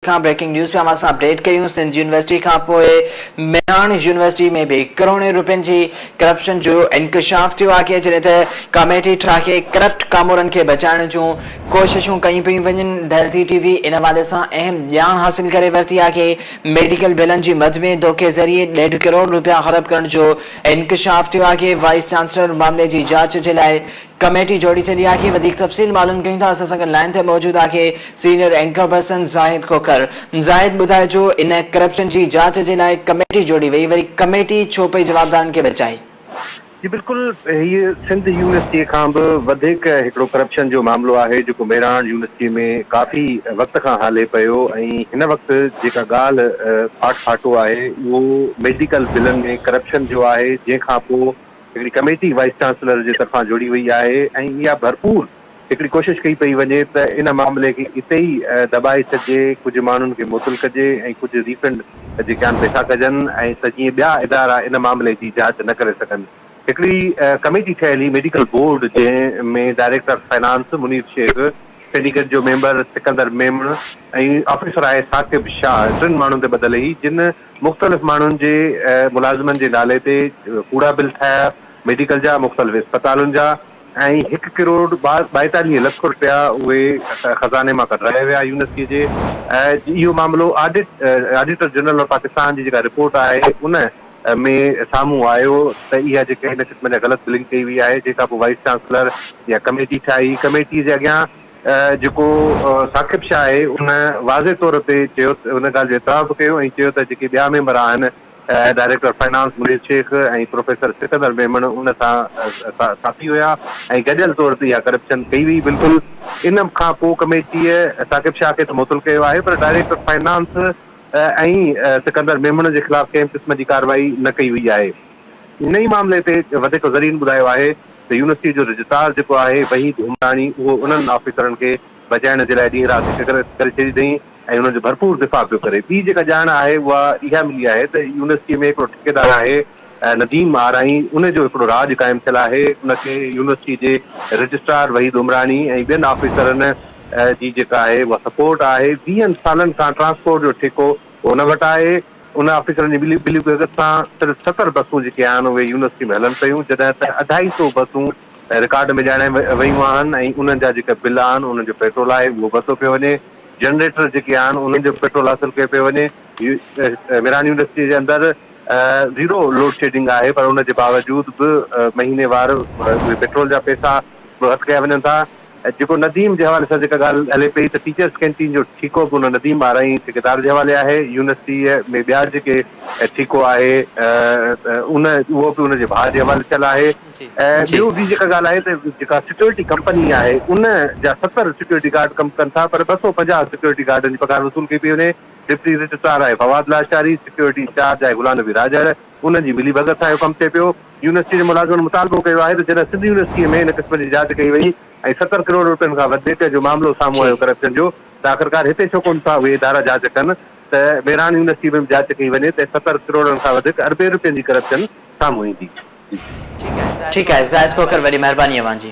کان breaking news پيا اوهان سان اپڊيٽ ڪيون سنڌ يونيورسٽي کان پوء مياڻ يونيورسٽي ۾ به ڪروڙين روپين جي ڪرپشن جو انڪشاف ٿيو آهي جڏهن ته ڪاميٽي ٺاهي ڪرپٽ ڪامورن کي بچائڻ جون ڪوششون ڪيون پيون وڃن ڌرتي ٽي وي ان حوالي سان اهم ڄاڻ حاصل ڪري ورتي آهي ميڊيڪل بلن جي مد ۾ ڌوڪي ذريعي ڏيڍ ڪروڙ روپيا هڙپ ڪرڻ جو انڪشاف ٿيو آهي وائيس چانسلر معاملي جي جاچ جي لاء ڪميٽي جوڙي ڇڏي آھي وڌيڪ تفصيل معلوم ڪيون ٿا اسان سان گڏ لائين تي موجود آھي senior anchor person Zahid Khokhar Zahid ٻڌائجو ان ڪرپشن جي جاچ جي لاء ڪميٽي جوڙي وئي وري ڪميٽي ڇو پئي جوابدارن کي بچائي. جي بلڪل هي سنڌ يونيورسٽي کان به وڌيڪ هڪڙو ڪرپشن جو معاملو آهي جيڪو ميراڻ يونيورسٽي ۾ ڪافي وقت کان هلي پيو ۽ هن وقت جيڪا ڳالھ ڦاٽ ڦاٽو آهي اهو ميڊيڪل بلن ۾ ڪرپشن جو آهي جنهن کان پو هڪڙي ڪميٽي وائيس چانسلر جي طرفان جوڙي وئي آهي ۽ اها ڀرپور هڪڙي ڪوشش ڪئي پئي وڃي ته ان معاملي کي اتي ئي دٻائي ڇڏجي، ڪجهه ماڻهن کي معطل ڪجي ۽ ڪجهه ري فنڊ جي ڪيان پئسا ڪجن ۽ ته جيئن ٻيا ادارا ان معاملي جي جاچ نه ڪري سگهن. هڪڙي ڪميٽي ٺهيل هئي ميڊيڪل بورڊ جنهن ۾ director finance Munir Shaikh, syndicate جو ميمبر سڪندر ميمڻ ۽ آفيسر آهي ثاقب شاهه ٽن ماڻهن تي ٻڌل هئي جن مختلف ماڻهن جي ملازمن جي نالي تي ڪوڙا بل ٺاهيا، ميڊيڪل جا، مختلف اسپتالن جا ۽ هڪ ڪروڙ ٻائيتاليهه لک رپيا اهي خزاني مان ڪڍرايا ويا يونيورسٽيء جي. اهو معاملو آڊيٽر جنرل آف پاڪستان جي جيڪا رپورٽ آهي ان ۾ سامهون آيو ته اها جيڪا هن قسم جا غلط بلنگ ڪئي وئي آهي جنهن کانپوء وائيس چانسلر اها ڪميٽي ٺاهي، ڪميٽيء جي اڳيان جيڪو ثاقب شاهه آهي ان واضح طور تي چيو ان ڳالهه جو اعتراف به ڪيو ۽ چيو ته جيڪي ٻيا ميمبر آهن director finance Munir Shaikh ۽ professor Sikandar Memon ان سان ساٿي هيا ۽ گڏيل طور تي اها ڪرپشن ڪئي وئي بلڪل ان کان پو ڪميٽيء ثاقب شاهه کي ته معطل ڪيو آهي پر ڊائريڪٽر فنانس ۽ سڪندر ميمڻ جي خلاف ڪنهن به قسم جي ڪارروائي نه ڪئي وئي آهي. هن ئي معاملي تي وڌيڪ ذريعن ٻڌايو آهي ته يونيورسٽي جو رجسٽرار جيڪو آهي وحيد عمراڻي اهو انهن آفيسرن کي بچائڻ جي لاء ڏينهن رات هڪ ڪري ڇڏي اٿئي ۽ انهن جو ڀرپور دفاع پيو ڪري. ٻي جيڪا ڄاڻ آهي اها اها ملي آهي ته يونيورسٽي ۾ هڪڙو ٺيڪيدار آهي نديم آرائين ان جو هڪڙو راڄ قائم ٿيل آهي ان کي يونيورسٽي جي رجسٽرار وحيد عمراڻي ۽ ٻين آفيسرن جي جيڪا آهي اها سپورٽ آهي ويهن سالن کان ٽرانسپورٽ جو ٺيڪو هن وٽ آهي انهن آفيسرن جي ٻلي ٻلي ڳگهه سان صرف ستر بسون جيڪي آهن اهي يونيورسٽي ۾ هلن پيون جڏهن ته اڍائي سو بسون رڪارڊ ۾ ڄاڻايون ويون آهن ۽ انهن جا جيڪا بل آهن انهن جو پيٽرول آهي اهو ورتو پيو وڃي جنريٽر جيڪي آهن انهن جو پيٽرول حاصل ڪيو پيو وڃي ميران يونيورسٽي جي اندر زيرو لوڊ شيڊنگ آهي پر ان جي باوجود به مهيني وار اهي پيٽرول جا پئسا به هٿ ڪيا وڃن ٿا جيڪو نديم جي حوالي سان جيڪا ڳالهه هلي پئي ته ٽيچرس ڪينٽين جو ٺيڪو به ان نديم آرائين ٺيڪيدار جي حوالي آهي، يونيورسٽيء ۾ ٻيا جيڪي ٺيڪو آهي ان اهو به ان جي ڀاء جي حوالي ٿيل آهي ۽ ٻيو ٻي جيڪا ڳالهه آهي ته جيڪا سيڪيورٽي ڪمپني آهي ان جا ستر سيڪيورٽي گارڊ ڪم ڪن ٿا پر ٻه سؤ پنجاهه سيڪيورٽي گارڊن جي پگهار وصول ڪئي پئي وڃي، ڊپٽي رجسٽرار آهي فواد لاشاري، سيڪيورٽي انچارج آهي غلام نبي راڄڙ، انهن جي ملي ڀڳت سان اهو ڪم ٿئي پيو. يونيورسٽي جي ملازمن مطالبو ڪيو آهي ته جڏهن سنڌ يونيورسٽيء ۾ ان قسم جي جاچ ڪئي وئي ۽ ستر ڪروڙ روپين کان وڌيڪ جو معاملو سامهون آيو ڪرپشن جو ته آخرڪار هتي ڇو ڪونه ٿا اهي ادارا جاچ ڪن ته ميراڻ يونيورسٽيء ۾ به جاچ ڪئي وڃي ته ستر ڪروڙن کان وڌيڪ اربين روپين جي ڪرپشن سامهون ايندي. ٺيڪ آهي زاهد کوکر وڏي مهرباني اوهان جي.